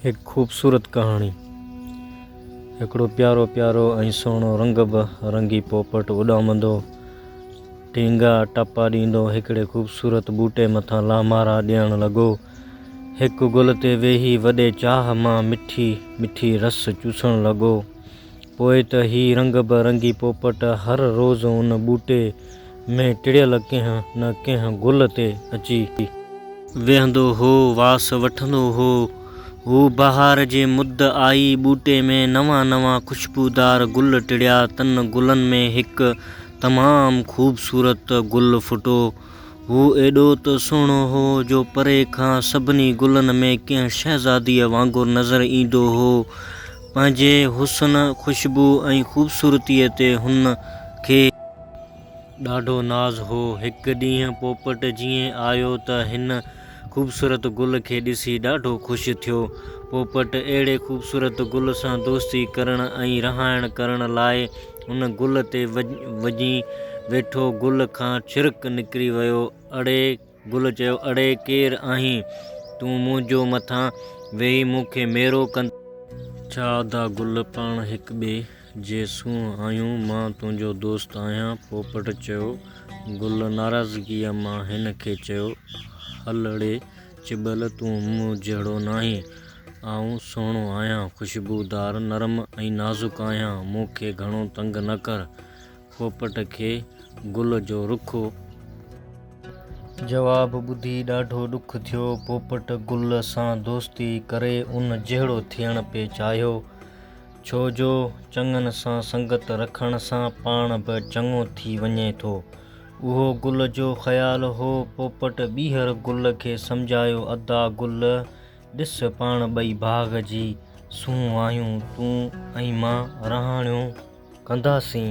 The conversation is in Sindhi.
هڪ خوبصورت ڪهاڻي. هڪڙو پيارو پيارو ۽ سهڻو رنگ به رنگي پوپٽ اڏامندو ٽينگا ٽپا ڏيندو هڪڙي خوبصورت ٻوٽي مٿان لامارا ڏيڻ لڳو. هڪ گل تي ويهي وڏي چاهه مان مٺي مٺي رس چوسڻ لڳو. پوء ته هي رنگ به رنگي پوپٽ هر روز ان ٻوٽي ۾ ٽڙيل ڪنهن نه ڪنهن گل تي اچي. ويهندو هو، واس وٺندو هو. هو بهار جي مد آئي، ٻوٽي ۾ نوان نوان خوشبودار گل ٽڙيا. تن گلن ۾ هڪ تمام خوبصورت گل ڦٽو. هو ايڏو ته سهڻو هو جو پري کان سڀني گلن ۾ ڪنهن شهزاديء وانگر نظر ايندو هو. پنهنجي حسن، خوشبو ۽ خوبصورتيء تي هن کي. ڏاڍو ناز هو. هڪ ڏينهن پوپٽ جيئن آيو ته هن خوبصورت گل کي ڏسي ڏاڍو خوش ٿيو. پوپٽ اهڙي خوبصورت گل سان دوستي ڪرڻ ۽ رهائڻ ڪرڻ لاء ان گل تي وڃي ويٺو. گل کان ڇرڪ نڪري ويو. اڙي! گل چيو، اڙي ڪير آهين تون منهنجو مٿان ويهي مون کي ميرو ڪندين؟ ڇا ادا گل پاڻ هڪ ٻئي جي سونهن آهيون، مان تنهنجو دوست آهيان. پوپٽ چيو. گل ناراضگيء مان هن کي چيو، هل اڙي چٻل تون مون جهڙو ناهين، آئون سهڻو آهيان، خوشبودار، نرم ۽ نازڪ آهيان، مون کي گهڻو تنگ نه ڪر. پوپٽ کي گل جو رخ. جواب ٻڌي ڏاڍو ڏک ٿيو. پوپٽ گل سان دوستي ڪري ان جهڙو ٿيڻ پئي چاهيو. ڇو جو چڱن سان سنگت رکڻ سان پاڻ به چڱو ٿي وڃي ٿو. اهو گل جو خيال هو. پوپٽ ٻيهر گل کي سمجهايو ادا گل ڏس پاڻ ٻئي باغ جي سونهن آهيون، تون ۽ مان رهاڻيون ڪنداسين.